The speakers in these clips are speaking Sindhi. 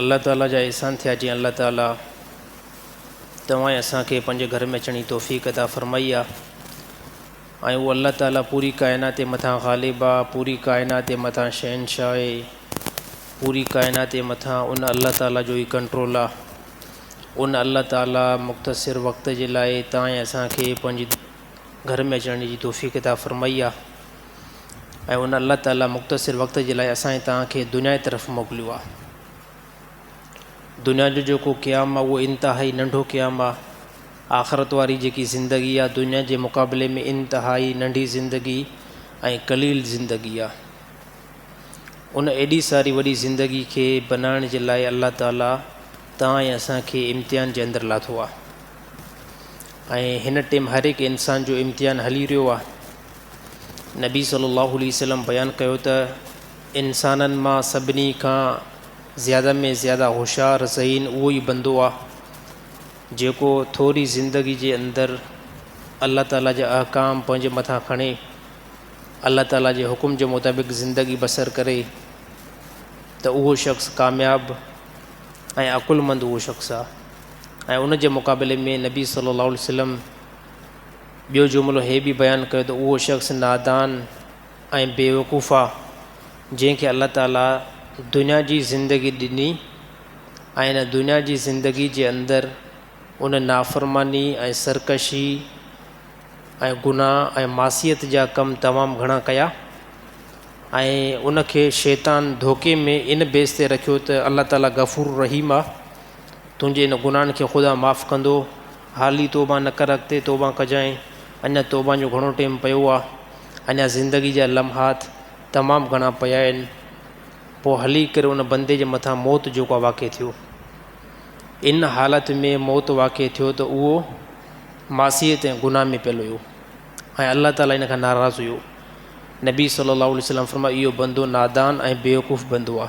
الله تعاليٰ جا احسان ٿيا جنهن الله تعاليٰ توهان ۽ اسان کي پنهنجي گهر ۾ اچڻ جي توفيق عطا فرمائي آ ۽ اهو الله تعاليٰ پوري ڪائنات جي مٿان غالب آ پوري ڪائنات جي مٿان شهنشاهه آهي پوري ڪائنات جي مٿان ان الله تعاليٰ جو ئي ڪنٽرول آ ان الله تعاليٰ مختصر وقت جي لاء توهان ۽ اسان کي پنهنجي گهر ۾ اچڻ جي توفيق عطا فرمائي آ ۽ ان الله تعالي مختصر وقت جي لاء اسان ۽ توهان کي دنيا جي طرف موڪليو آهي. دنيا جو جيڪو قيام آهي اهو انتهائي ننڍو قيام آهي. آخرت واري جيڪي زندگي آهي دنيا جي مقابلي ۾ انتهائي ننڍي زندگي ۽ قليل زندگي آهي. ان ايڏي ساري وڏي زندگي کي بنائڻ جي لاء الله تعالي توهان ۽ اسان کي امتحان جي اندر لاٿو آهي ۽ هن ٽيم هر هڪ انسان جو امتحان هلي رهيو آهي. نبي صلي الله عليه وسلم بيان ڪيو ته انسانن مان سڀني کان زياده ۾ زياده هوشيار ذهين اهو ئي بندو آهي جيڪو ٿوري زندگي جي اندر الله تعالي جا احڪام پنهنجي مٿان کڻي الله تعالي جي حڪم جي مطابق زندگي بسر ڪري ته اهو شخص ڪامياب ۽ عقل مند اهو شخص آهي ۽ ان جي مقابلي ۾ نبي صلي الله عليه وسلم ٻيو جملو هي به بيان ڪيو ته اهو شخص نادان ۽ بيوقوف آ، جنهن کي الله تعاليٰ دنيا جي زندگي ڏني ۽ ان دنيا جي زندگي جي اندر ان نافرماني ۽ سرڪشي ۽ گناهه ۽ معصيت جا ڪم تمام گهڻا ڪيا ۽ ان کي شيطان ڌوڪي ۾ ان بيس تي رکيو ته الله تعاليٰ غفور الرحيم آ، تنهنجي ان گناهن کي خدا معاف ڪندو. حال ئي توبان نه ڪر اڳتي توبان ڪجانء اڃا توبان جو گهڻو ٽيم پيو آ اڃا زندگي جا لمحات تمام گهڻا پيا آهن پوء هلي ڪري ان بندي جي مٿان موت جوڪا واقع ٿيو ان حالت ۾ موت واقع ٿيو ته اهو معصيت ۽ گناهه ۾ پيل هيو ۽ الله تعالي ان کان ناراض هيو نبي صلي الله عليه وسلم فرمايو اهو بندو نادان ۽ بيوقوف بندو آ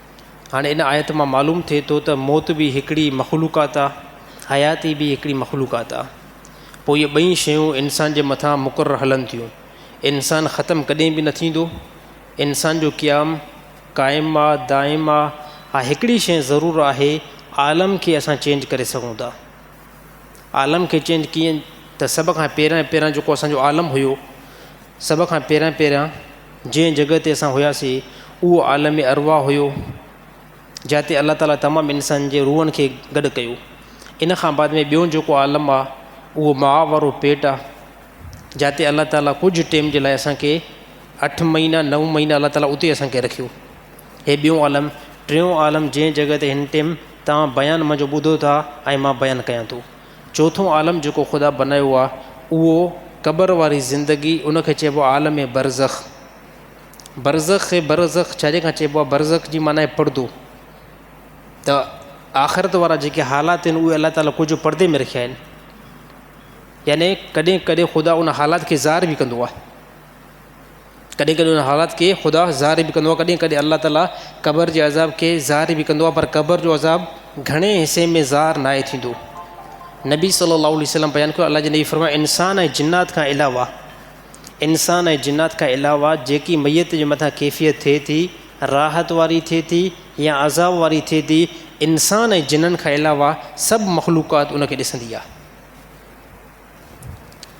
هاڻي ان آيت مان معلوم ٿئي ٿو ته موت به هڪڙي مخلوقات آ، حياتي به هڪڙي مخلوقات آ. پوء اهي ٻئي شيون انسان جي مٿان مقرر هلن ٿيون. انسان ختم ڪڏهن به نه ٿيندو. انسان جو قيام قائم آ، دائم آ. ها هڪڙي شيء ضرور آهي، عالم کي اسان چينج ڪري سگهون ٿا. عالم کي چين ڪيئن ته سڀ کان پهريان پهريان جيڪو اسان جو عالم هيو، سڀ کان پهريان پهريان جنهن جڳهه تي اسان هياسي اهو عالم ارواح هيو جاتي الله تعالي تمام انسانن جي روحن کي گڏ ڪيو ان کان بعد ۾ ٻيو جيڪو عالم آ اهو ماء وارو پيٽ آ جاتي الله تعالي ڪجهه ٽيم جي لاء اسان کي اٺ مهينا نو مهينا الله تعالي اتي اسان کي رکيو هي ٻيون عالم، ٽيون عالم جنهن جڳهه تي هن ٽيم توهان بيان منهنجو ٻڌو ٿا ۽ مان بيان ڪيان ٿو. چوٿون عالم جيڪو خدا بنايو آ اهو قبر واري زندگي ان کي چئبو آ عالم برزخ. برزخ کي برزخ ڇا جي کان چئبو آ برزخ جي معنيٰ آهي پردو. ته آخرت وارا جيڪي حالات آهن اهي الله تعالي ڪجهه پردي ۾ رکيا آهن. يعني ڪڏهن ڪڏهن خدا ان حالات کي ظاهر به ڪندو آ. ڪڏهن ڪڏهن ان حالات کي خدا ظاهر به ڪندو آهي ڪڏهن ڪڏهن الله تعالیٰ قبر جي عذاب کي ظاهر به ڪندو آهي پر قبر جو عذاب گهڻي حصي ۾ ظاهر نه آهي ٿيندو نبي صلي الله عليه وسلم بيان ڪيو الله جي نبي فرمايو انسان ۽ جنات کان علاوه انسان ۽ جنات کان علاوه جيڪي ميت جي مٿان ڪيفيت ٿئي ٿي راحت واري ٿئي ٿي يا عذاب واري ٿئي ٿي انسان ۽ جنن کان علاوه سڀ مخلوقات ان کي ڏسندي آهي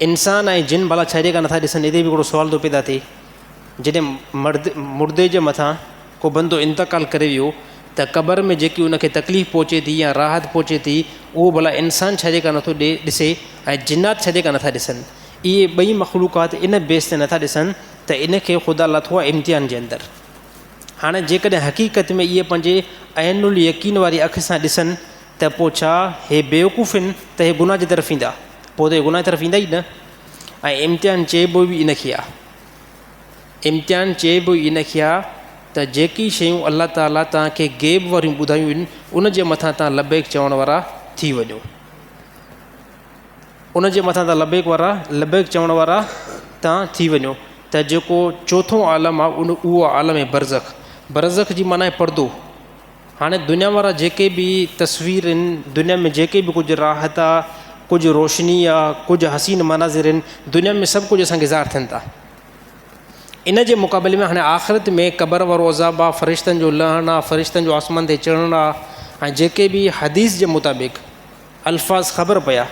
انسان ۽ جن ڀلا ڇا جيڪا نٿا ڏسن؟ اتي به هڪڙو سوال ٿو پيدا ٿئي جڏهن مرد مردي جي مٿان ڪو بندو انتقال ڪري ويو ته قبر ۾ جيڪي ان کي تڪليف پهچي ٿي يا راحت پهچي ٿي اهو ڀلا انسان ڇا جيڪا نٿو ڏي ڏسي ۽ جنات ڇا جيڪا نٿا ڏسن؟ اهي ٻئي مخلوقات ان بيس تي نٿا ڏسن ته ان کي خدا لاٿو آهي امتحان جي اندر. هاڻي جيڪڏهن حقيقت ۾ اهي پنهنجي عين اليقين واري اک سان ڏسن ته پوء ڇا هي بيوقوف هن ته هي گناهه جي طرف ويندا؟ پوء ته هي گناهه جي طرف ويندا ئي نه. ۽ امتحان چئبو ئي ان کي آهي. امتحان چئبو ئي ان کي آهي ته جيڪي شيون الله تعاليٰ توهان کي غيب واريون ٻڌايون هن ان جي مٿان توهان لبيڪ چوڻ وارا ٿي وڃو. ان جي مٿان توهان لبيڪ وارا، لبيڪ چوڻ وارا، توهان ٿي وڃو. ته جيڪو چوٿون عالم آهي اهو آهي عالم برزخ. برزخ جي معنيٰ آهي پردو. هاڻي دنيا وارا جيڪي به تصوير آهن، دنيا ۾ جيڪي به ڪجهه راحت آ، ڪجهه روشني آ، ڪجهه حسين مناظر آهن، دنيا ۾ سڀ ڪجهه اسان کي ظاهر ٿين ٿا. ان جي مقابلي ۾ هاڻي آخرت ۾ قبر وارو عذاب آ، فرشتن جو لهڻ آ، فرشتن جو آسمان تي چڙهڻ آ ۽ جيڪي به حديث جي مطابق، الفاظ خبر پيا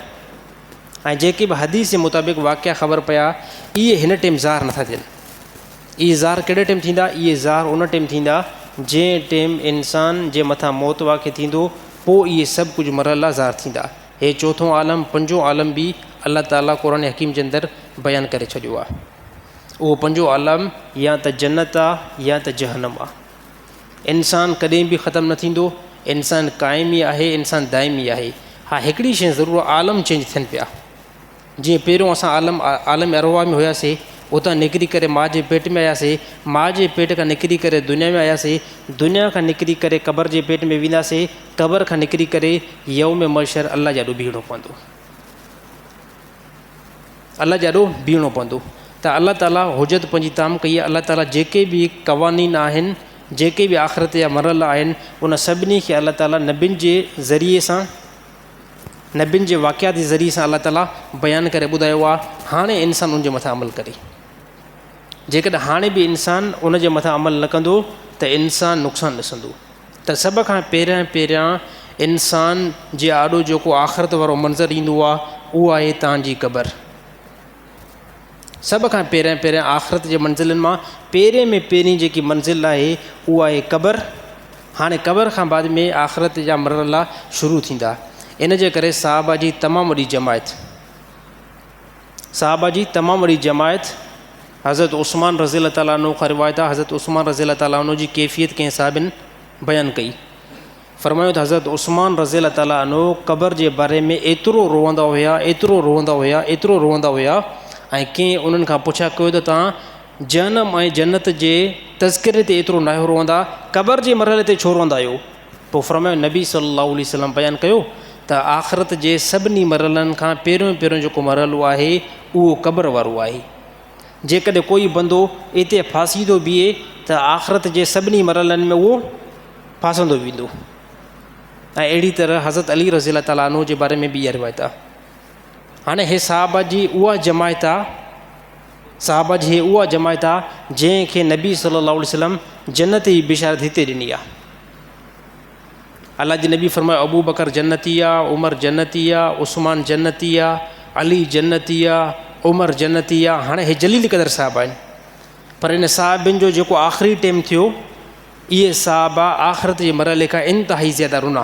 ۽ جيڪي به حديث جي مطابق واقعا خبر پيا اهي هن ٽيم ظاهر نٿا ٿين اهي ظاهر ڪهڙي ٽيم ٿيندا اهي ظاهر ان ٽيم ٿيندا جنهن ٽيم انسان جي مٿان موت واقع ٿيندو پوء اهي سڀ ڪجهه مرحلا ظاهر ٿيندا هي چوٿون عالم پنجون عالم به الله تعاليٰ قرآن حڪيم جي اندر بيان ڪري ڇڏيو آهي اهو پنجون عالم يا ته جنت آهي يا ته جهنم آهي انسان ڪڏهن به ختم نه ٿيندو، انسان قائم ئي آهي، انسان دائم ئي آهي. ها هڪڙي شيء ضرور آهي عالم چينج ٿين پيا. جيئن پهريون اسان عالم عالم ارواح ۾ هياسي، اتان نڪري ڪري ماء جي پيٽ ۾ آياسي، ماء جي پيٽ کان نڪري ڪري دنيا ۾ آياسي، دنيا کان نڪري ڪري قبر جي پيٽ ۾ وينداسي، قبر کان نڪري ڪري يوم محشر الله جي آڏو بيهڻو پوندو. الله جي آڏو بيهڻو پوندو ته الله تعالي حجت پنهنجي تام ڪئي آهي الله تعالي جيڪي به قوانين آهن جيڪي به آخرت جا مرحلا آهن ان سڀني کي الله تعالي نبين جي ذريعي سان نبين جي واقعات جي ذريعي سان الله تعالي بيان ڪري ٻڌايو آهي هاڻي انسان ان جي مٿان عمل ڪري جيڪڏهن هاڻي به انسان ان جي مٿان عمل نه ڪندو ته انسان نقصان ڏسندو ته سڀ کان پهريان پهريان انسان جي آڏو جيڪو آخرت وارو منظر ايندو آهي اهو آهي تان جي قبر. سڀ کان پهريان پهريان آخرت جي منزلن مان پهرين ۾ پهرين جيڪي منزل آهي اهو آهي قبر. هاڻي قبر کان بعد ۾ آخرت جا مرحلا شروع ٿيندا. ان جي ڪري صحابه جي تمام وڏي جماعت. صحابه جي تمام وڏي جماعت حضرت عثمان رضي الله تعالٰي عنه کان روايت آ حضرت عثمان رضي الله تعالٰي عنه جي ڪيفيت ڪنهن صحابين بيان ڪئي فرمايو ته حضرت عثمان رضي الله تعالٰي عنه قبر جي باري ۾ ايترو روئندا هيا ايترو روئندا هيا ايترو روئندا هيا ۽ ڪنهن انهن کان پڇا ڪيو ته توهان جهنم ۽ جنت جي تذڪري تي ايترو ناهيو روئندا قبر جي مرحلي تي ڇو روئندا آهيو پوء فرمايو، نبي صلّي اللّٰه عليه وسلّم بيان ڪيو ته آخرت جي سڀني مرحلن کان پهريون پهريون جيڪو مرحلو آهي اهو قبر وارو آهي. جيڪڏهن ڪوئي بندو اتي ڦاسيندو بيهي ته آخرت جي سڀني مرحلن ۾ اهو ڦاسندو ويندو. ۽ اهڙي طرح حضرت علي رضي الله تعالٰي عنه جي باري ۾ به اها روايت آهي. هاڻي هي صحابه جي اها جماعت آهي. صحابه جي هي اها جماعت آ جنهن کي نبي صلي الله عليه وسلم جنت جي بشارت هتي ڏني آ. الله جي نبي فرمايو ابو بڪر جنتي آ، عمر جنتي آ، عثمان جنتي آ، علي جنتي آ، عمر جنتي آ هاڻي هي جليل قدر صحابه آهن پر ان صحابين جو جيڪو آخري ٽيم ٿيو اهي صحابه آخرت جي مرحلي کان انتهائي زياده رنا.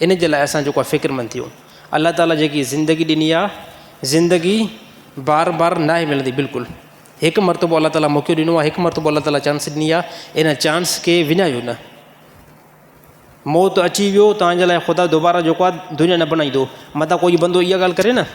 ان جي لاء اسان جيڪو آهي فڪرمند ٿيون. الله تعاليٰ جيڪي زندگي ڏني آهي، زندگي بار بار ناهي ملندي بلڪل هڪ مرتبو الله تعاليٰ موقعو ڏنو آهي، هڪ مرتبو الله تعاليٰ چانس ڏني آهي، ان چانس کي وڃايو نه. موت اچي ويو توهان جي لاء خدا دوباره جيڪو آهي دنيا نه بنائيندو. متان ڪوئي بندو اها ڳالهه ڪري نه.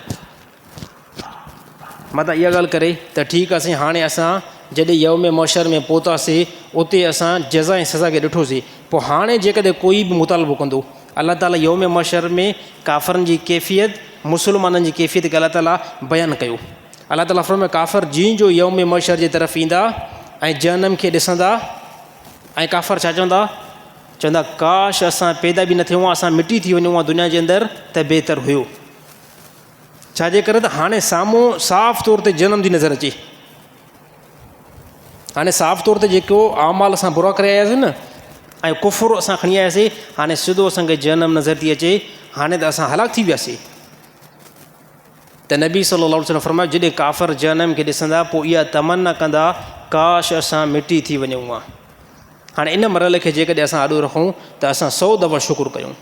متان اها ڳالهه ڪري ته ٺيڪ آهي سائين، هاڻي اسان جڏهن يوم محشر ۾ پهتاسين، اتي اسان جزا ۽ سزا کي ڏٺوسين، پوء هاڻي جيڪڏهن ڪوئي به مطالبو ڪندو. الله تعاليٰ يوم محشر ۾ ڪافرن جي ڪيفيت، مسلمانن جي ڪيفيت کي الله تعاليٰ بيان ڪيو. الله تعاليٰ فرمايو، ڪافر جيئن جو يوم محشر جي طرف ايندا ۽ جهنم کي ڏسندا ۽ ڪافر ڇا چوندا؟ چوندا، ڪاش اسان پيدا به نه ٿيون هان، اسان مٽي ٿي وڃون هان دنيا جي اندر ته بهتر هيو. ڇا جي ڪري ته هاڻي سامهون صاف طور تي جهنم جي نظر اچي هاڻي صاف طور تي جيڪو اعمال اسان برا ڪري آياسي نه ۽ کفر اسان کڻي آياسي هاڻي سڌو اسانکي جهنم نظر ٿي اچي هاڻي ته اسان هلاڪ ٿي وياسي ته نبي صلي الله عليه وسلم فرمايو جڏهن ڪافر جهنم کي ڏسندا پوء اها تمنا ڪندا ڪاش اسان مٽي ٿي وڃون ها هاڻي ان مرحلي کي جيڪڏهن اسان آڏو رکون ته اسان سو دفعا شڪر ڪيون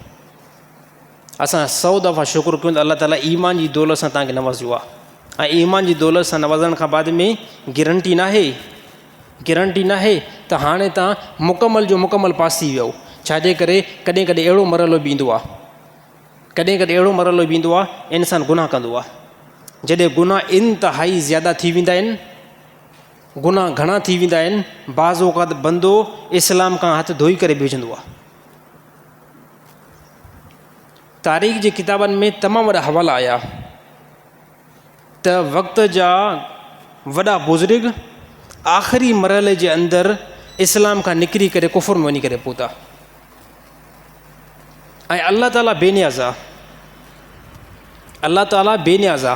اسان سؤ دفعا شڪر ڪيون ته الله تعالي ايمان جي دولت سان تانکي نوازيو آ ۽ ايمان جي دولت سان نوازڻ کان بعد ۾ گرنٽي ناهي گرنٽي ناهي ته هاڻي تان مڪمل جو مڪمل پاس ٿي ويو ڇاجي ڪري ڪڏهن ڪڏهن اهڙو مرحلو به ايندو آ ڪڏهن ڪڏهن اهڙو مرحلو به ايندو آ انسان گناهه ڪندو آ جڏهن گناهه انتهائي زياده ٿي ويندا آهن گناهه گهڻا ٿي ويندا آهن بعض اوقات بندو اسلام کان هٿ ڌوئي ڪري بيهجندو آ تاريخ جي ڪتابن ۾ تمام وڏا حوالا آيا ته وقت جا وڏا بزرگ آخري مرحلي جي اندر اسلام کان نڪري ڪري ڪفر ۾ وڃي ڪري پهتا ۽ الله تعالیٰ بي نياز آ الله تعالیٰ بي نياز آ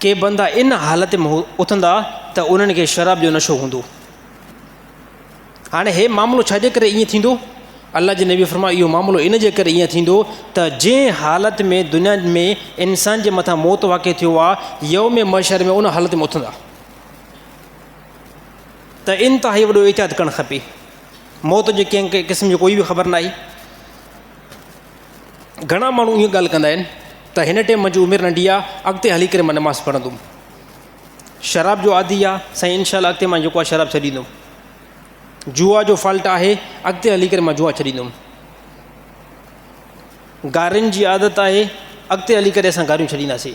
ڪي بندا ان حالت ۾ اٿندا ته انهن کي شراب جو نشو هوندو هاڻي هي معاملو ڇا جي ڪري ائين ٿيندو الله جي نبي فرمايو اهو معاملو ان جي ڪري ائين ٿيندو ته جنهن حالت ۾ دنيا ۾ انسان جي مٿان موت واقع ٿيو آهي يوم ۾ مشر ۾ ان حالت ۾ اٿندا ته انتهائي وڏو احتياط ڪرڻ کپي موت جي ڪنهن قسم جي ڪوئي به خبر ناهي گهڻا ماڻهو اهو ڳالهه ڪندا آهن ته هن ٽيم منهنجي عمر ننڍي آهي اڳتي هلي ڪري مان نماز پڙهندم شراب جو عادي آهي سائين انشاء الله اڳتي مان جيڪو شراب ڇڏيندم جوا جو فالٽ آهي اڳتي هلي ڪري مان جوا ڇڏيندم گارين جي عادت آهي اڳتي هلي ڪري اسان گاريون ڇڏينداسي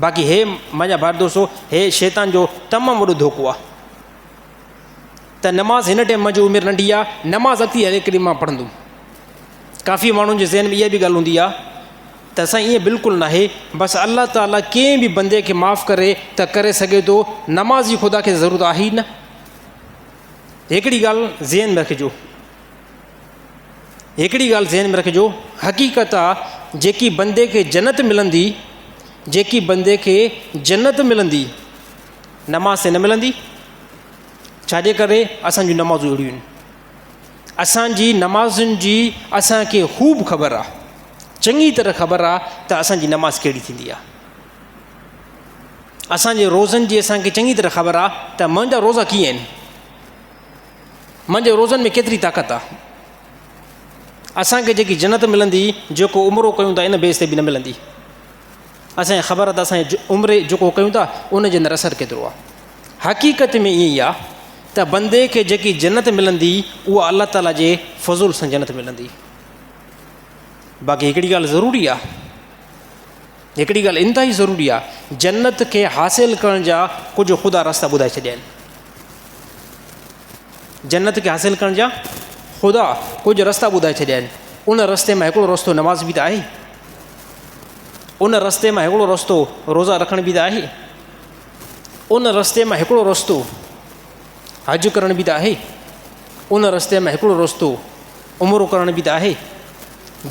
باقي هي منهنجا ڀائر دوستو هي شيطان جو تمام وڏو ڌوڪو آ ته نماز هن ٽائم منهنجي عمر ننڍي آ نماز اڳتي هلي ڪري مان پڙهندم ڪافي ماڻهن جي ذهن ۾ اها به ڳالهه هوندي آ ته اسان ائين بلڪل نه آهي بس الله تعاليٰ ڪنهن به بندي کي معاف ڪري ته ڪري سگهي ٿو نماز جي خدا کي ضرورت آهي نه هڪڙي ڳالهه ذهن ۾ رکجو هڪڙي ڳالهه ذهن ۾ رکجو، حقيقت آ جيڪي بندي کي جنت ملندي، جيڪي بندي کي جنت ملندي، نماز سين نه ملندي، ڇاجي ڪري اسان جون نمازون اهڙيون آهن. اسان جي نمازن جي اسان کي خوب خبر آ، چڱي طرح خبر آ ته اسان جي نماز ڪهڙي ٿيندي آ. اسان جي روزن جي اسان کي چڱي طرح خبر آ ته منهنجا روزا ڪيئن آهن. من جي روزن ۾ ڪيتري طاقت آ اسان کي جيڪي جنت ملندي جيڪو عمرو ڪيون ٿا ان بيس تي به نه ملندي اسان کي خبر آ اسان عمري جيڪو ڪيون ٿا ان جي اندر اثر ڪيترو آ حقيقت ۾ ائين آ ته بندي کي جيڪي جنت ملندي اها الله تعاليٰ جي فضول سان جنت ملندي باقي هڪڙي ڳالهه ضروري آ هڪڙي ڳالهه انتهائي ضروري آهي، جنت کي حاصل ڪرڻ جا ڪجهه خدا رستا ٻڌائي ڇڏيا آهن. جنت کي حاصل ڪرڻ جا خدا ڪجهه رستا ٻڌائي ڇڏيا آهن ان رستي ۾ هڪڙو رستو نماز بي ته آهي ان رستي ۾ هڪڙو رستو روزا رکڻ بي ته آهي ان رستي ۾ هڪڙو رستو حج ڪرڻ بي ته آهي ان رستي ۾ هڪڙو رستو عمرو ڪرڻ به ته آهي.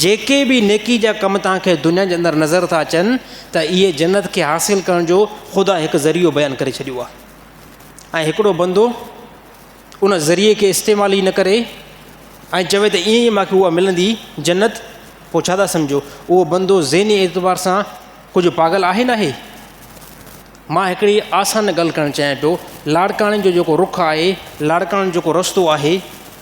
جيڪي به نيڪي جا ڪم توهان کي دنيا جي اندر نظر ٿا اچن ته اهي جنت کي حاصل ڪرڻ جو خدا هڪ ذريعو بيان ڪري ڇڏيو آهي ۽ هڪڙو بندو ان ذريعي کي استعمال ئي نه ڪري ۽ چوي ته ائين ئي مونکي اها ملندي جنت پوء ڇا ٿا سمجھو اهو بندو ذهني اعتبار سان ڪجهه پاگل آهي نه آهي مان هڪڙي آسان ڳالهه ڪرڻ چاهيان پيو لاڙڪاڻي جو جيڪو رخ آهي لاڙڪاڻي جو جيڪو رستو آهي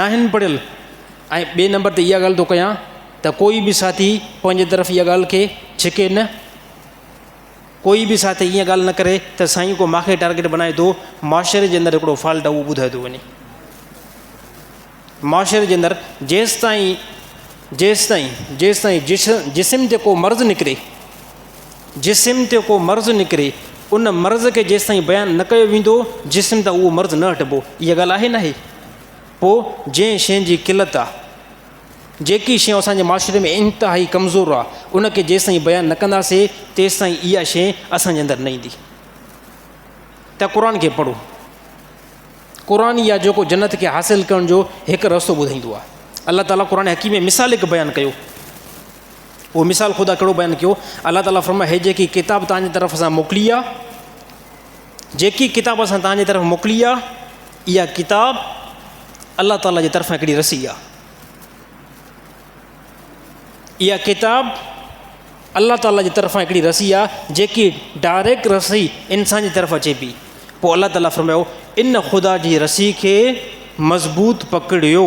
ناهن پڙهيل ۽ ٻئي نمبر تي اها ڳالهه ٿو ڪيان ته ڪوئي به ساٿي پنهنجي طرف اها ڳالهه کي ڇڪي نه ڪوئي به ساٿي اها ڳالهه نه ڪري ته سائين ڪو ماکي ٽارگيٽ بنائي ٿو معاشري جي اندر هڪڙو فالٽ اهو ٻڌايو ٿو وڃي معاشري جي اندر جيستائين جيستائين جيستائين جسم جي ڪو مرض نڪري جسم تي ڪو مرض نڪري، ان مرض کي جيستائين بيان نه ڪيو ويندو، جسم تان اهو مرض نه هٽبو. اها ڳالهه آهي ناهي؟ پوء جنهن شين جي قلت آهي، جيڪي شيون اسان جي معاشري ۾ انتهائي ڪمزور آهي، ان کي جيستائين بيان نه ڪنداسين، تيستائين اها شين اسان جي اندر نه ايندي. ته قرآن کي پڙهو. قرآن ئي آهي جيڪو جنت کي حاصل ڪرڻ جو هڪ رستو ٻڌائيندو آهي. الله تعاليٰ قرآن حڪيم ۾ مثال هڪ بيان ڪيو. اهو مثال خدا ڪهڙو بيان ڪيو؟ الله تعاليٰ فرمايو هي جيڪي ڪتاب توهان جي طرف اسان موڪلي آ، جيڪي ڪتاب اسان توهان جي طرف موڪلي آ، اها ڪتاب الله تعاليٰ جي طرفان هڪڙي رسي آ. اها ڪتاب الله تعاليٰ جي طرفان هڪڙي رسي آ، جيڪي ڊائريڪٽ رسي انسان جي طرف اچي پي. پوء الله تعاليٰ فرمايو ان خدا جي رسي کي مضبوط پڪڙيو.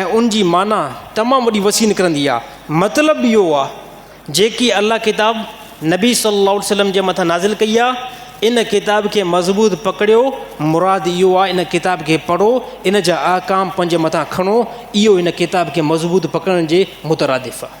۽ ان جي معنيٰ تمام وڏي وسيع نڪرندي آهي. مطلب اهو آهي جيڪي الله ڪتاب نبي صلي الله عليه وسلم جي مٿان نازل ڪئي آهي ان ڪتاب کي مضبوط پڪڙيو مراد اهو آهي ان ڪتاب کي پڙهو ان جا احڪام پنهنجي مٿان کڻو اهو ان ڪتاب کي مضبوط پڪڙڻ جي مترادف آهي.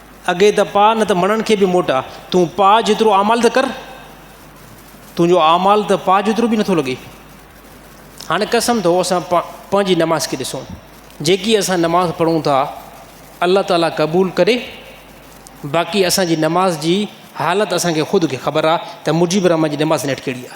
اڳي ته پاء نه ته مڙن کي به موٽاء. تون پاء جيترو اعمال ته ڪر، تنهنجو اعمال ته پاء جيترو به نٿو لڳي. هاڻي قسم اٿو اسان پنهنجي نماز کي ڏسون. جيڪي اسان نماز پڙهون ٿا الله تعاليٰ قبول ڪري باقي اسان جي نماز جي حالت اسان کي خود کي خبر آ ته مجيب الرحمان جي نماز نيٺ ڪهڙي آ.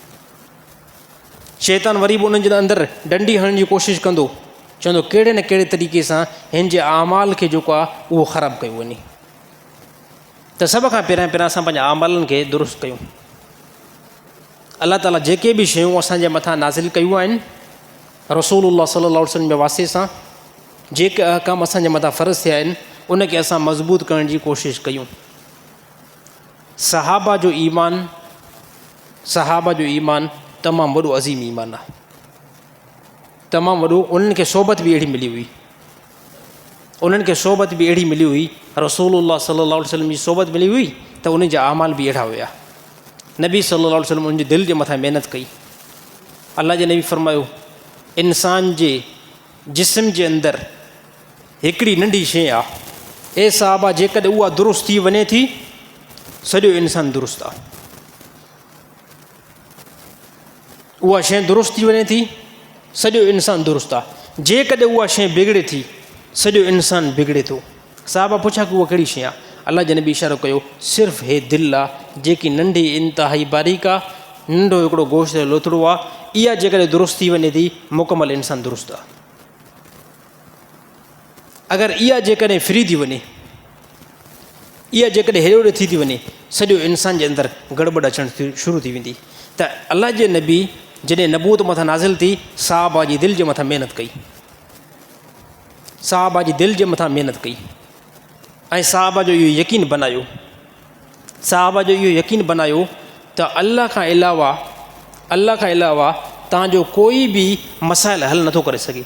شيطان وري به انهن جي اندر ڊنڊي هڻڻ جي ڪوشش ڪندو چوندو ڪهڙي نه ڪهڙي طريقي سان هن جي اعمال کي جيڪو آهي اهو خراب ڪيو وڃي ته سڀ کان پهريان پهريان اسان پنهنجا اعمالن کي درست ڪيون الله تعالیٰ جيڪي بي شيون اسان جي مٿان نازل ڪيون آهن رسول الله صلي الله وسلم جي واسطي سان جيڪي احڪام اسان جي مٿان فرض ٿيا آهن ان کي اسان مضبوط ڪرڻ جي ڪوشش ڪيون صحابه جو ايمان صحابه جو ايمان تمام وڏو عظيم ايمان آ تمام وڏو انهن کي صحبت به اهڙي ملي هئي انهن کي صحبت به اهڙي ملي هئي رسول الله صلي الله عليه وسلم جي صحبت ملي هئي ته انهن جا اعمال به اهڙا هيا نبي صلي الله عليه وسلم انهن جي دل جي مٿان محنت ڪئي الله جي نبي فرمايو انسان جي جسم جي اندر هڪڙي ننڍي شيء آ. اي صاحبا جيڪڏهن اها درست ٿي وڃي ٿي سڄو انسان درست آ. اها شيء درست ٿي وڃي ٿي سڄو انسان درست آ. جيڪڏهن اها شيء بگڙي ٿي سڄو انسان بگڙي ٿو. صاحبا پڇا ڪي اها ڪهڙي شيء آ؟ الله جي نبي اشارو ڪيو صرف هي دل آ جيڪي ننڍي انتهائي باريڪ آ، ننڍو هڪڙو گوشت جو لوٿڙو آ. اها جيڪڏهن درست ٿي وڃي ٿي مڪمل انسان درست آ. اگر اها جيڪڏهن ڦري ٿي وڃي، اها جيڪڏهن هيڏي هوڏي ٿي ٿي وڃي، سڄو انسان جي اندر گڙٻڙ اچڻ شروع ٿي ويندي ته الله جي نبي جڏهن نبوت مٿان نازل ٿي، صحابه جي دل جي مٿان محنت ڪئي، صحابه جي دل جي مٿان محنت ڪئي ۽ صحابه جو اهو يقين بنايو، صحابه جو اهو يقين بنايو ته الله کان علاوه الله کان علاوه تان جو ڪوئي به مسائل حل نٿو ڪري سگهي.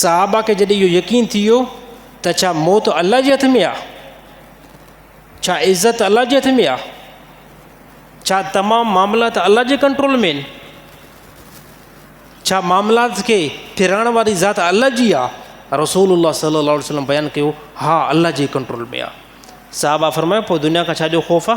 صحابه کي جڏهن اهو يقين ٿي ويو ته ڇا موت الله جي هٿ ۾ آ ڇا عزت الله جي هٿ ۾ آ ڇا تمام معاملات الله جي ڪنٽرول ۾ آهن ڇا معاملات کي ڦرائڻ واري ذات الله جي آ رسول الله صلي الله عليه وسلم بيان ڪيو ها الله جي ڪنٽرول ۾ آ صحابه فرمايو پوء دنيا کان ڇا جو خوف آ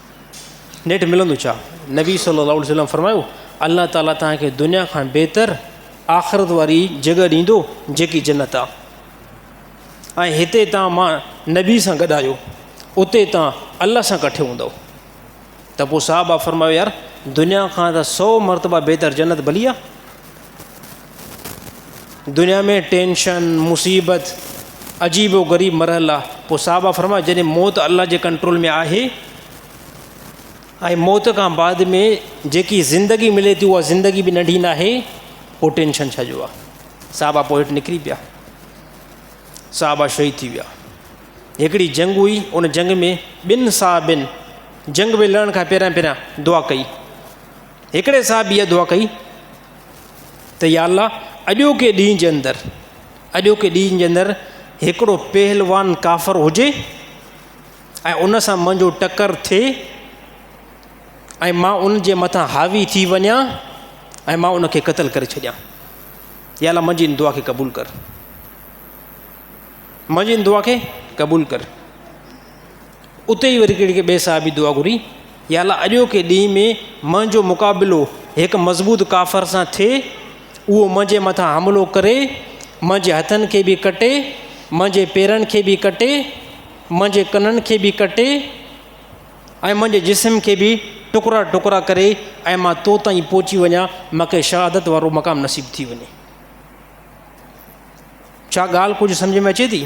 نيٺ ملندو ڇا؟ نبي صلي الله عليه وسلم فرمايو الله تعالي توهان کي دنيا کان بهتر آخرت واري جڳهه ڏيندو جيڪي جنت آ ۽ هتي توهان مان نبي سان گڏ آهيو اتي توهان الله سان ڪٺي هوندو ته پوء صحابه فرمايو يار دنيا کان ته سو مرتبه بهتر جنت ڀلي آ دنيا ۾ ٽينشن، مصيبت، عجيب و غريب مرحلا، پوء صحابه فرمايو جڏهن موت الله جي ڪنٽرول ۾ آهي ۽ موت کان بعد ۾ جيڪي زندگي ملي ٿي اها زندگي به ننڍي نه آهي پوء ٽينشن ڇا جو آهي صحابه پوء هيٺ نڪري پيا صحابه شهيد ٿي ويا هڪڙي جنگ هئي ان جنگ ۾ ٻن صحابين جنگ ۾ لڙڻ کان پهريان پهريان دعا ڪئي هڪڙي صحابي اها دعا ڪئي ته يا الله اڄوڪي ڏينهن جي اندر اڄوڪي ڏينهن جي اندر هڪڙو پهلوان ڪافر هجي ۽ ان سان منهنجو ٽڪر ٿئي ۽ مان ان جي مٿان حاوي ٿي وڃا ۽ مان ان کي قتل ڪري ڇڏيان يا الله منهنجي ان دعا کي قبول ڪر منهنجي ان دعا کي قبول ڪر اتي ئي وري ڪهڙي ٻئي صحابي دعا گهري، يا الله اڄوڪي ڏينهن ۾ منهنجو مقابلو هڪ مضبوط ڪافر سان ٿئي، اهو منهنجي مٿان حملو ڪري، منهنجي هٿن کي به ڪٽي، منهنجي پيرن کي به ڪٽي، منهنجي ڪنن کي به ڪٽي ۽ منهنجي جسم کي به ٽڪرا ٽڪرا ڪري ۽ مان تو تائين پهچي وڃان، مان کي شهادت وارو مقام نصيب ٿي وڃي. ڇا ڳالهه ڪجهه سمجهه ۾ اچي ٿي؟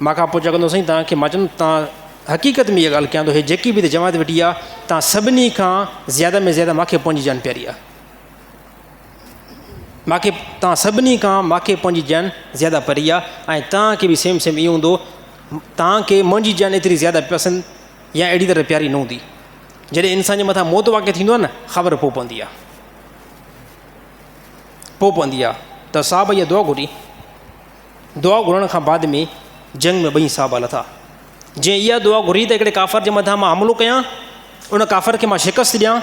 مان کان پڇا ڪندو سائين تان کي مان چوندم تان حقيقت ۾ اها ڳالهه ڪيان ٿو هي جيڪي به جماعت ويٺي آ تان سڀني کان زياده ۾ زياده مان کي پنهنجي جان پياري آ مان کي تان سڀني کان مان کي پنهنجي جان زياده پري آ ۽ تان کي به سيم سيم ايو هوندو تان کي منهنجي جان ايتري زياده پسند يا اهڙي طرح پياري نه هوندي جڏهن انسان جي مٿان موت واقع ٿيندو آ نه خبر پو پوندي آ پو پوندي آ ته صاحب يا دعا گهري دعا گهرڻ کان بعد ۾ جنگ ۾ ٻئي صحابه لٿا جنهن اها دعا گهري ته هڪڙي ڪافر جي مٿان مان حملو ڪيان ان ڪافر کي مان شڪست ڏيان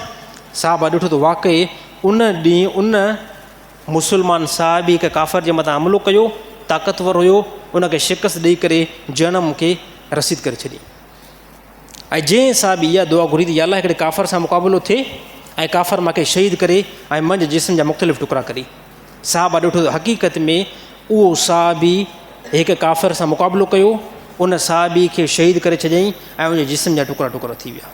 صحابه ڏٺو ته واقعي ان ڏينهن ان مسلمان صاحب هڪ ڪافر جي مٿان حملو ڪيو طاقتور هيو ان کي شڪست ڏيئي ڪري جنم کي رسيد ڪري ڇڏي ۽ جنهن سان به اها دعا گهري ته يا الله هڪڙي ڪافر سان مقابلو ٿئي ۽ ڪافر ماکي شهيد ڪري ۽ منجهه جسم جا مختلف ٽڪرا ڪري صحابه ڏٺو ته حقيقت ۾ اهو صحابي هڪ ڪافر سان مقابلو ڪيو ان صحابي کي شهيد ڪري ڇڏيائين ۽ ان جسم جا ٽڪرا ٽڪرا ٿي ويا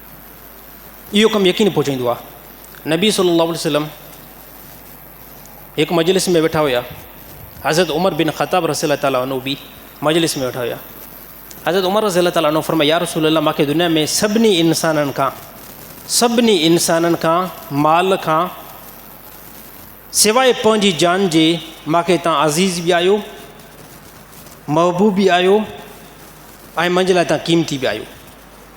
اهو ڪم يقين پهچائيندو آهي. نبي صلي الله عليه وسلم هڪ مجلس ۾ ويٺا هيا حضرت عمر بن خطاب رسي الله تعالیٰ عنو به مجلس ۾ ويٺا هيا حضرت عمر رسي الله تعالیٰ عنو فرمايا يا رسول الله ماکي دنيا ۾ سڀني انسانن کان سڀني انسانن کان مال کان سواء پنهنجي جان جي ماکي تان عزيز به آيو محبوب به آيو ۽ منهنجي لاء تان قيمتي به آيو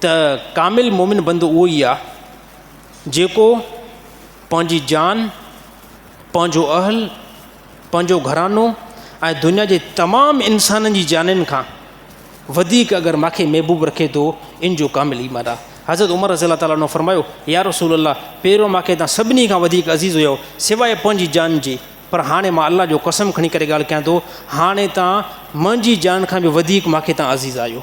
ته ڪامل مومن بندو اهو ئي آهي جيڪو پنهنجي جان پنهنجو اهل پنهنجو گهرانو ۽ دنيا جي تمام انسانن جي جانين کان وڌيڪ اگر ماکي محبوب رکي ٿو ان جو ڪامل ايمان آ حضرت عمر رضي الله تعالٰي عنه فرمايو يا رسول الله پهريو ماکي تان سڀني کان وڌيڪ عزيز هيو سواء پنهنجي جان جي پر هاڻي مان الله جو قسم کڻي ڪري ڳالهه ڪيان ٿو هاڻي تان منهنجي جان کان به وڌيڪ ماکي تان عزيز آهيو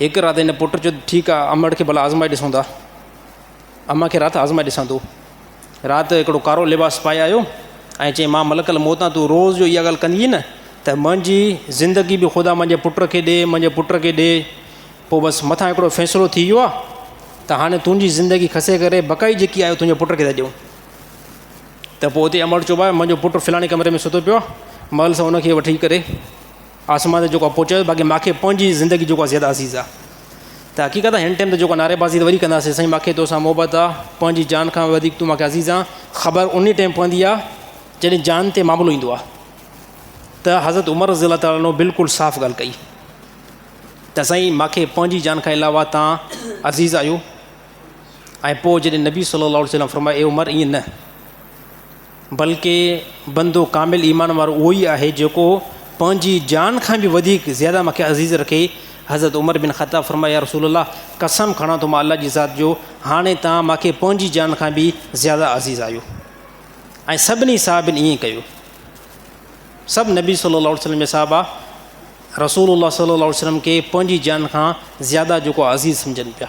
هڪ رات هن پٽ چيو ته ٺيڪ آ امڙ کي ڀلا آزمائي ڏسون ٿا. امان کي رات آزمائي ڏسان ٿو. رات هڪڙو ڪارو لباس پائي آيو ۽ چيائين مان ملڪ الموت آ تون روز جو اها ڳالهه ڪندينء نه ته منهنجي زندگي به خدا منهنجي پٽ کي ڏي منهنجي پٽ کي ڏي پوء بس مٿان هڪڙو فيصلو ٿي ويو آ ته هاڻي تنهنجي زندگي کسي ڪري بقائي جيڪي آهي اها تنهنجي پٽ کي ٿا ڏيون ته پوء اتي امڙ چيو ڀاء منهنجو پٽ فلاڻي ڪمري ۾ ستو پيو آ مئل سان ان کي وٺي ڪري آسمان تي جيڪو اپو چيو باقي ماکي پنهنجي زندگي جيڪو آهي زياده عزيز آهي ته حقيقت آهي هن ٽائيم ته جيڪو نعري بازي ته وري ڪنداسي سائين ماکي توسان محبت آهي پنهنجي جان کان وڌيڪ تون ماکي عزيز آهي خبر انهي ٽائيم پوندي آهي جڏهن جان تي معاملو ايندو آهي ته حضرت عمر رضي الله تعالٰي عنه بلڪل صاف ڳالهه ڪئي ته سائين ماکي پنهنجي جان کان علاوه تان عزيز آهيو ۽ پوء جڏهن نبي صلي الله عليه وسلم فرمايو اي عمر ائين نه بلڪ بندو ڪامل ايمان وارو اهو ئي آهي جيڪو پنهنجي جان کان به وڌيڪ زياده مون کي عزيز رکي. حضرت عمر بن خطاب فرمايو، يا رسول الله! قسم کڻان ٿو مان الله جي ذات جو، هاڻي توهان مون کي پنهنجي جان کان به زياده عزيز آهيو. ۽ سڀني صحابين ائين ڪيو. سڀ نبي صلي الله عليه وسلم جا صحابا رسول الله صلي الله عليه وسلم کي پنهنجي جان کان زياده جيڪو عزيز سمجهن پيا.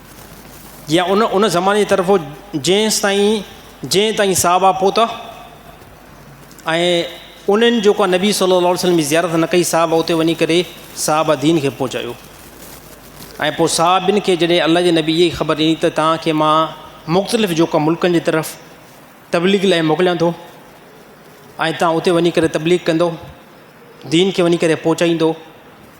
يا ان ان زماني جي طرف هو جنهنستائين جنهن تائين صحابه پهتا ۽ انهن جيڪو آهي نبي صلي الله عليه وسلم جي زيارت نه ڪئي صحابه اتي وڃي ڪري صحابه دين کي پهچايو ۽ پوء صحابين کي جڏهن الله جي نبي جي خبر ڏني ته توهان کي مان مختلف جيڪو آهي ملڪن جي طرف تبليغ لاء موڪليان ٿو ۽ توهان اتي وڃي ڪري تبليغ ڪندو دين کي وڃي ڪري پهچائيندو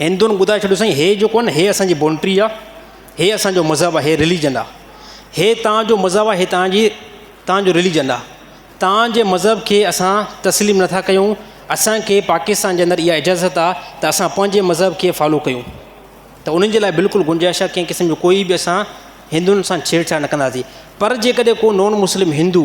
هندن ٻڌائي ڇڏيو سائين هي جيڪو آهي نه هي اسان جي بونٽري آهي هي اسان جو مذهب آهي هي رليجن آهي هي تان جو مذهب آهي هي تان جي تان جو رليجن آهي تان جي مذهب کي اسان تسليم نٿا ڪيون اسان کي پاڪستان جي اندر اها اجازت آهي ته اسان پنهنجي مذهب کي فالو ڪيون ته انهن جي لاء بلڪل گنجائش آهي ڪنهن قسم جو ڪوئي به اسان هندن سان ڇيڙ ڇاڙ نه ڪنداسي پر جي ڪڏهن ڪو نون مسلم هندو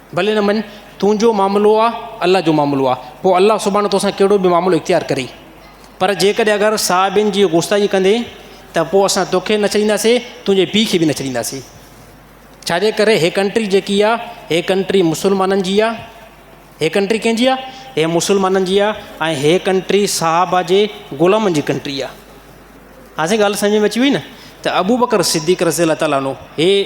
ڀلي نه مڃ، تنهنجو معاملو آ، الله جو معاملو آ، پوء الله سبحانه توسان ڪهڙو به معاملو اختيار ڪري. پر جيڪڏهن اگر صحابين جي غوستائي ڪندين ته پوء اسان توکي نه ڇڏينداسين، تنهنجي پيء کي به نه ڇڏينداسين. ڇاجي ڪري هي ڪنٽري جيڪي آ، هي ڪنٽري مسلمانن جي آ. هي ڪنٽري ڪنهن جي آ؟ هي مسلمانن جي آ ۽ هي ڪنٽري صحابه جي غلامن جي ڪنٽري آ. هاڻ سائين ڳالهه سمجهه ۾ اچي وئي نه ته ابوبڪر صديق رضي الله تعالٰي عنه هي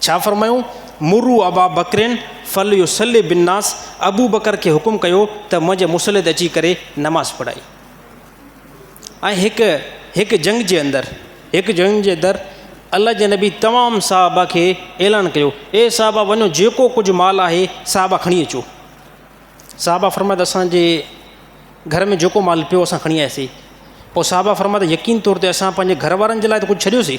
ڇا فرمايون، مروا ابا بڪرين فليصلي بالناس ابو بڪر کي حڪم ڪيو ته منهنجي مصليت اچي ڪري نماز پڙهائي ۽ هڪ هڪ جنگ جي اندر هڪ جنگ جي اندر الله جي نبي تمام صحابه کي اعلان ڪيو اي صحابه وڃو جيڪو ڪجهه مال آهي صحابه کڻي اچو صحابه فرمايا اسان جي گهر ۾ جيڪو مال پيو اسان کڻي آياسي پوء صحابه فرمايا يقين طور تي اسان پنهنجي گهر وارن جي لاء ته ڪجهه ڇڏيوسي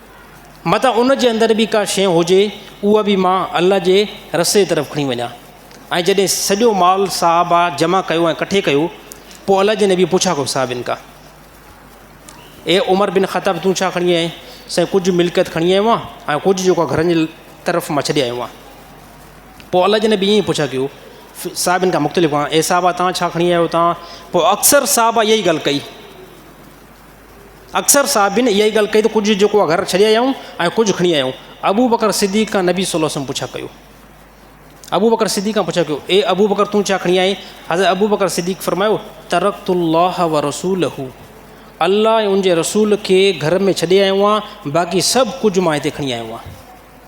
متان ان جي اندر به ڪا شيء هجي، اها به مان الله جي رستي طرف کڻي وڃان. ۽ جڏهن سڄو مال صحابه جمع ڪيو ۽ ڪٺي ڪيو، پوء الله جي نبيء پڇا ڪيو صحابين کان، اي عمر بن خطاب تون ڇا کڻي آيو آهين؟ سائين ڪجهه ملڪيت کڻي آيو آهيان ۽ ڪجهه جيڪو گهرن جي طرف مان ڇڏي آيو آهيان. پوء الله جي نبيء ائين پڇا ڪيو صحابين کان مختلف کان، اي صحابه تان ڇا کڻي آيو آهيو تان؟ پوء اڪثر صحابه اها ئي ڳالهه ڪئي. اڪثر صحابين اها ئي ڳالهه ڪئي ته ڪجهه جيڪو آهي گهر ڇڏي آيا آهيون ۽ ڪجهه کڻي آيا آهيون. ابوبڪر صديق کان نبي صلي الله عليه وسلم پڇا ڪيو. ابوبڪر صديق کان پڇا ڪيو، اي ابوبڪر تون ڇا کڻي آئين؟ حضرت ابوبڪر صديق فرمايو، ترڪت الله ورسوله، الله ۽ ان جي رسول کي گهر ۾ ڇڏي آيو آهيان، باقي سڀ ڪجهه مان هتي کڻي آيو آهيان.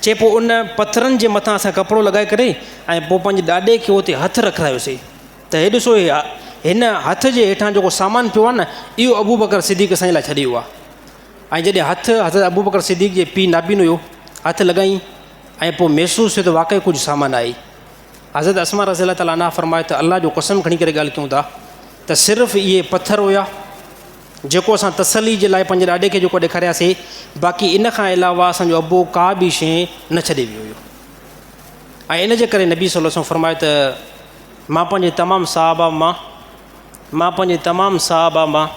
چي پوء ان پٿرن جي مٿان اسان ڪپڙو لڳائي ڪري ۽ پوء پنهنجي ڏاڏي کي اتي هٿ رکرايوسي ته هي ڏسو هي هن هٿ جي هيٺان جيڪو سامان پيو آهي نه اهو ابو بڪر صديق اسان جي لاء ڇڏي ويو آهي ۽ جڏهن هٿ حضرت ابو بڪر صديق جي پيء نابين هيو هٿ لڳائين ۽ پوء محسوس ٿيو ته واقعي ڪجهه سامان آهي حضرت اسما رضي الله تعالیٰ عنها فرمايو ته الله جو قسم کڻي ڪري ڳالهه ڪيون ٿا ته صرف اهي پٿر هيا جيڪو اسان تسلي جي لاء پنهنجي ڏاڏي کي جيڪو ڏيکارياسي باقي ان کان علاوه اسان جو ابو ڪا به شيء نه ڇڏي ويو هيو ۽ ان جي ڪري نبي صلي الله علیه وسلم فرمايو ته مان پنهنجي تمام صحابه مان مان پنهنجي تمام صحابه مان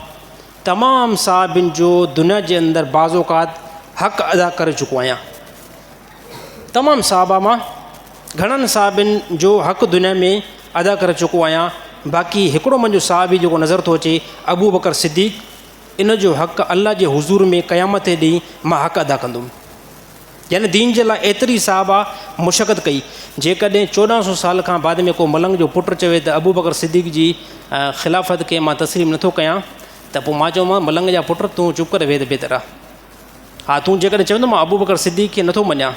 تمام صحابين جو دنيا جي اندر بعض اوقات حق ادا ڪري چڪو آهيان تمام صحابه مان گھڻن صحابين جو حق دنيا ۾ ادا ڪري چڪو آهيان باقي هڪڙو منهنجو صحابي جيڪو نظر ٿو اچي ابو بکر صديق ان جو حق الله جي حضور ۾ قيامت جي ڏينهن مان حق ادا ڪندم يعني دين جي لاء ايتري صحابه مشقت ڪئي جيڪڏهن چوڏهن سو سال کان بعد ۾ ڪو ملنگ جو پٽ چوي ته ابو بکر صديق جي خلافت کي مان تسليم نٿو ڪيان ته پوء مان چومان ملنگ جا پٽ تون چپ ڪري ويهه ته بهتر آهي ها تون جيڪڏهن چويندو مان ابوبڪر صديق کي نٿو مڃان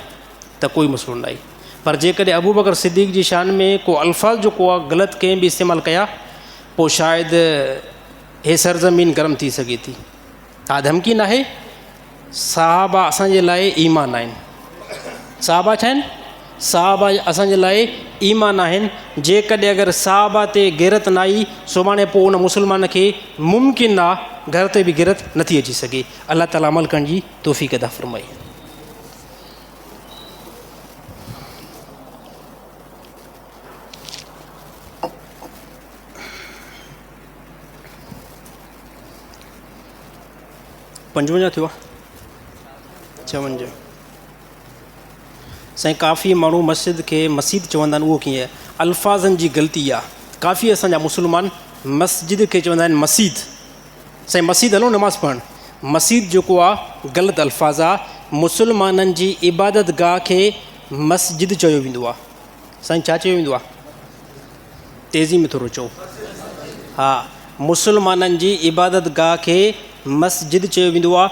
ته ڪوئي مسئلو ناهي پر جيڪڏهن ابوبڪر صديق جي شان ۾ ڪو الفاظ جو ڪو غلط ڪنهن به استعمال ڪيا پوء شايد هي سرزمين گرم ٿي سگهي ٿي ها ڌمڪي ناهي صحابا اسان جي لاء ايمان آهن صحابا ڇا آهن صحابا اسان جي لاء ايمان آهن جيڪڏهن اگر صحابا تي غيرت نه آئي سڀاڻي پوء ان مسلمان کي ممڪن نه گهر تي به غيرت نٿي اچي سگهي الله تعالي عمل ڪرڻ جي توفيق عطا فرمائي. پنجونجاهه ٿيو آهي چونجاهه سائين ڪافي ماڻهو مسجد کي مسيد چوندا آهن اهو ڪيئن الفاظن جي غلطي آهي ڪافي اسان جا مسلمان مسجد کي چوندا آهن مسيد سائين مسيد هلو نماز پڙهڻ. مسيد جيڪو آ غلط الفاظ آ مسلمانن جي عبادت گاهه کي مسجد چيو ويندو آ سائين ڇا چيو ويندو آ تيزي ۾ ٿورو چئو ها مسلمانن جي عبادت گاهه کي مسجد چيو ويندو آ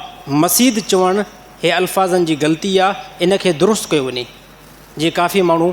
مسيد چوڻ هي الفاظن جي غلطي آ ان کي درست ڪيو وڃي جي ڪافي ماڻهو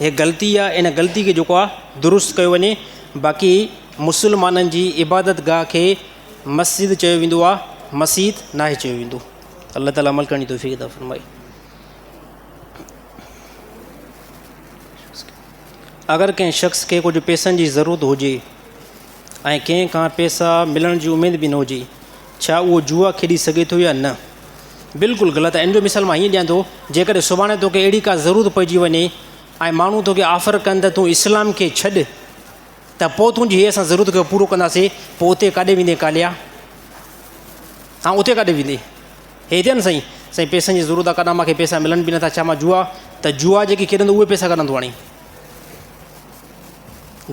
هيء غلطي آ، ان غلطي کي جيڪو آ درست ڪيو وڃي، باقي مسلمانن جي عبادت گاهه کي مسجد چيو ويندو آ، مسيت ناهي چيو ويندو. الله تعالي عمل ڪرڻ جي توفيق عطا فرمائي. اگر ڪنهن شخص کي ڪجهه پيسن جي ضرورت هجي ۽ ڪنهن کان پيسا ملڻ جي اميد به نه هجي، ڇا اهو جوا کيڏي سگهي ٿو يا نه؟ بلڪل غلط آهي. ان جو مثال مان هيئن ڏيان ٿو، جيڪڏهن سڀاڻي توکي اهڙي ڪا ضرورت پئجي وڃي ۽ ماڻهو توکي آفر ڪن ته تون اسلام کي ڇڏ ته پوء تنهنجي هيء اسان ضرورت کي پورو ڪنداسين، پوء اتي ڪاڏي ويندين ڪاليا؟ ها اتي ڪاڏي ويندين؟ هي هتي آهن سائين؟ سائين پئسن جي ضرورت آهي ڪڏهن مان کي پئسا ملن به نٿا، ڇا مان جوا ته جوا جيڪي کيڏندو اهي پئسا ڪڏهن ٿو آڻي؟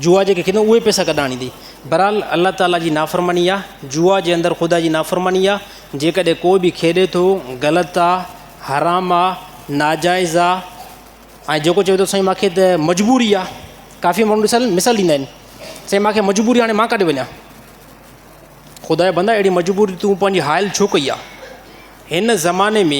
جوا جيڪي کيڏن اهي پئسا ڪڏهن آڻيندي؟ بهرحال الله تعاليٰ جي نافرماني آ، جوا جي اندر خدا جي نافرماني آ، جيڪڏهن ڪو به کيڏي ٿو غلط آ، حرام آ، ناجائز آ ۽ جيڪو چوي ٿو سائين مانکي ته مجبوري آ، ڪافي ماڻهو ڏسل مثال ڏيندا آهن سائين مانکي مجبوري آ هاڻي مان ڪاڏي وڃان؟ خدا جا بندا اهڙي مجبوري تون پنهنجي حائل ڇو ڪئي آ؟ هن زماني ۾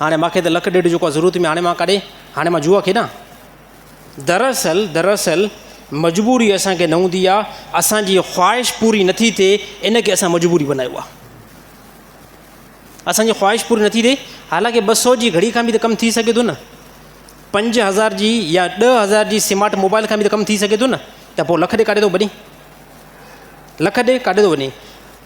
هاڻي ماکي ته لک ڏيڍ جوڪا ضرورت ۾ هاڻي مان ڪاڏي هاڻي مان جوا کيڏان دراصل دراصل مجبوري اسان کي نه هوندي آ اسان جي خواهش پوري نٿي ٿئي ان کي اسان مجبوري بنايو آ اسان جي خواهش پوري نٿي ٿئي حالانڪه ٻه سو جي گھڙي کان به ته ڪم ٿي سگھي ٿو نه پنج هزار جي يا ڏه هزار جي سمارٽ موبائل کان به ته ڪم ٿي سگھي ٿو نه ته پوء لک ڏي ڪاڏي ٿو وڃي لک ڏي ڪاڏي ٿو وڃي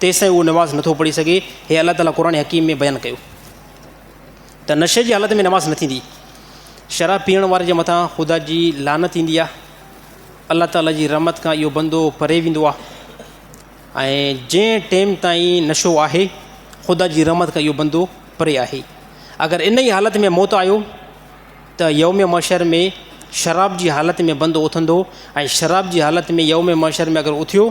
تيستائين اهو نماز نٿو پڙهي سگهي. هي الله تعاليٰ قرآن حڪيم ۾ بيان ڪيو ته نشي جي حالت ۾ نماز نه ٿيندي. شراب پيئڻ واري جي مٿان خدا جي لعنت ايندي آهي. الله تعاليٰ جي رحمت کان اهو بندو پري ويندو آهي ۽ جنهن ٽيم تائين نشو آهي خدا جي رحمت کان اهو بندو پري آهي. اگر انهيء حالت ۾ موت آيو. ته يوم محشر ۾ شراب جي حالت ۾ بندو اٿندو ۽ شراب جي حالت ۾ يوم محشر ۾ اگر اٿيو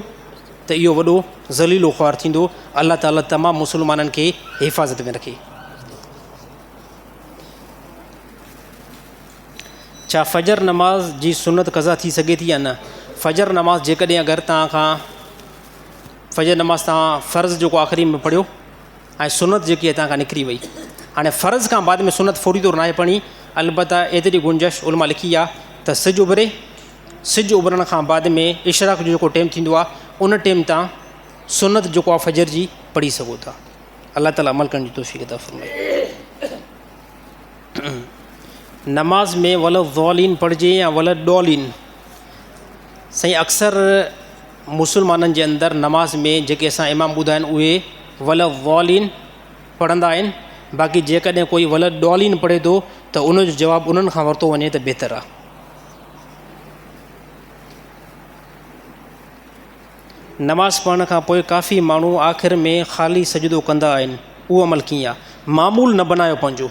ته اهو وڏو ذليل و خوار ٿيندو الله تعالي تمام مسلمانن کي حفاظت ۾ رکي. ڇا فجر نماز جي سنت قضا ٿي سگهي ٿي يا نه؟ فجر نماز جيڪڏهن اگر توهان کان فجر نماز توهان فرض جيڪو آخري ۾ پڙهيو ۽ سنت جيڪي هتان کان نڪري وئي. هاڻي فرض کان بعد ۾ سنت فوري طور ناهي پڙهڻي، البته ايتري گنجائش علماء لکي آهي ته سج اڀري، سج اڀرڻ کان بعد ۾ اشراق جو جيڪو ٽيم ٿيندو آهي ان ٽيم تان سنت جيڪو آهي فجر جي پڙهي سگهو ٿا. الله تعالي عمل ڪرڻ جي توفيق عطا فرمائي. نماز ۾ ولضالين پڙهجي يا ولضالين سائين اڪثر مسلمانن جي اندر نماز ۾ جيڪي اسان امام ٻڌا آهن اهي ولضالين پڙهندا آهن باقي جيڪڏهن ڪوئي ولضالين پڙهي ٿو ته ان جو جواب انهن کان ورتو وڃي ته بهتر آهي. نماز پڙهڻ کان پوء ڪافي ماڻهو آخر ۾ خالي سجدو ڪندا آهن اهو عمل ڪيئن آهي معمول نه بنايو پنهنجو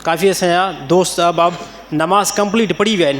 ڪافي اسان جا دوست احباب نماز ڪمپليٽ پڙهي ويا آهن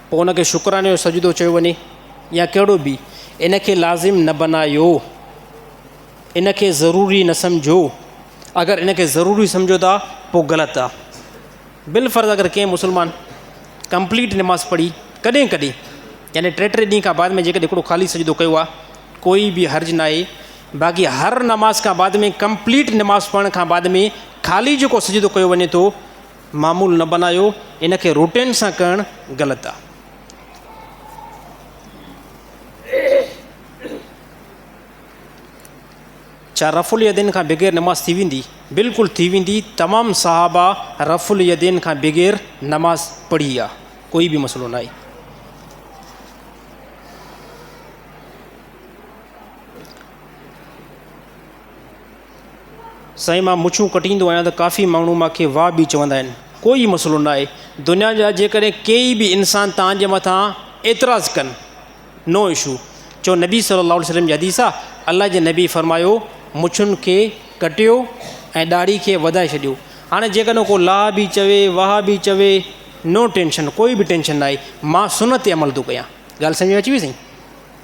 پوء ان کي شڪراني جو سجدو چيو وڃي يا ڪهڙو به، ان کي لازم نه بنايو، ان کي ضروري نه سمجهو، اگر ان کي ضروري سمجهو ٿا پوء غلط آ. بالفرض اگر ڪنهن مسلمان ڪمپليٽ نماز پڙهي ڪڏهن ڪڏهن يعني ٽي ٽي ڏينهن کان بعد ۾ جيڪڏهن هڪڙو خالي سجدو ڪيو آ ڪوئي به حرج ناهي باقي هر نماز کان بعد ۾ ڪمپليٽ نماز پڙهڻ کان بعد ۾ خالي جيڪو سجدو ڪيو وڃي ٿو معمول نه بنايو ان کي روٽين سان ڪرڻ غلط آ. ڇا رفع اليدين کان بغير نماز ٿي ويندي؟ بلڪل ٿي ويندي تمام صحابه رفع اليدين کان بغير نماز پڙهي آ ڪوئي به مسئلو ناهي. سائين مان مڇون ڪٽيندو آهيان ته ڪافي ماڻهو مان کي واهه به چوندا آهن ڪو ئي مسئلو نه آهي دنيا جا جيڪڏهن ڪيئي به انسان تانجي مٿان اعتراض ڪن نو اشو چو نبي صلي الله عليه وسلم جي حديث آهي الله جي نبي فرمايو مڇن کي ڪٽيو ۽ ڏاڙهي کي وڌائي ڇڏيو هاڻي جيڪڏهن ڪو لاهه به چوي واهه به چوي نو ٽينشن ڪوئي به ٽينشن نه آهي مان سنت تي عمل ٿو ڪيان ڳالهه سمجهه ۾ اچي وئي سائين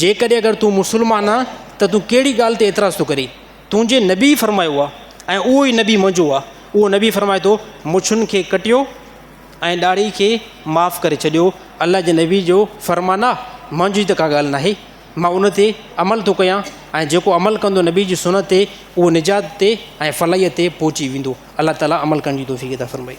جيڪڏهن اگر تون مسلمان آهين ته تون ڪهڙي ڳالهه تي اعتراض ٿو ڪرين تنهنجي نبي فرمايو آهي ۽ اهو ئي نبي منهنجو آهي اهو نبي فرمائي ٿو مڇن کي ڪٽيو ۽ ڏاڙهي کي معاف ڪري ڇڏيو الله جي نبي جو فرمان آهي منهنجي ته ڪا ڳالهه ناهي مان ان تي عمل ٿو ڪيان ۽ جيڪو عمل ڪندو نبي جي سنت تي اهو نجات تي ۽ فلاحيت تي پهچي ويندو الله تعالي عمل ڪرڻ جي توفيق عطا فرمائي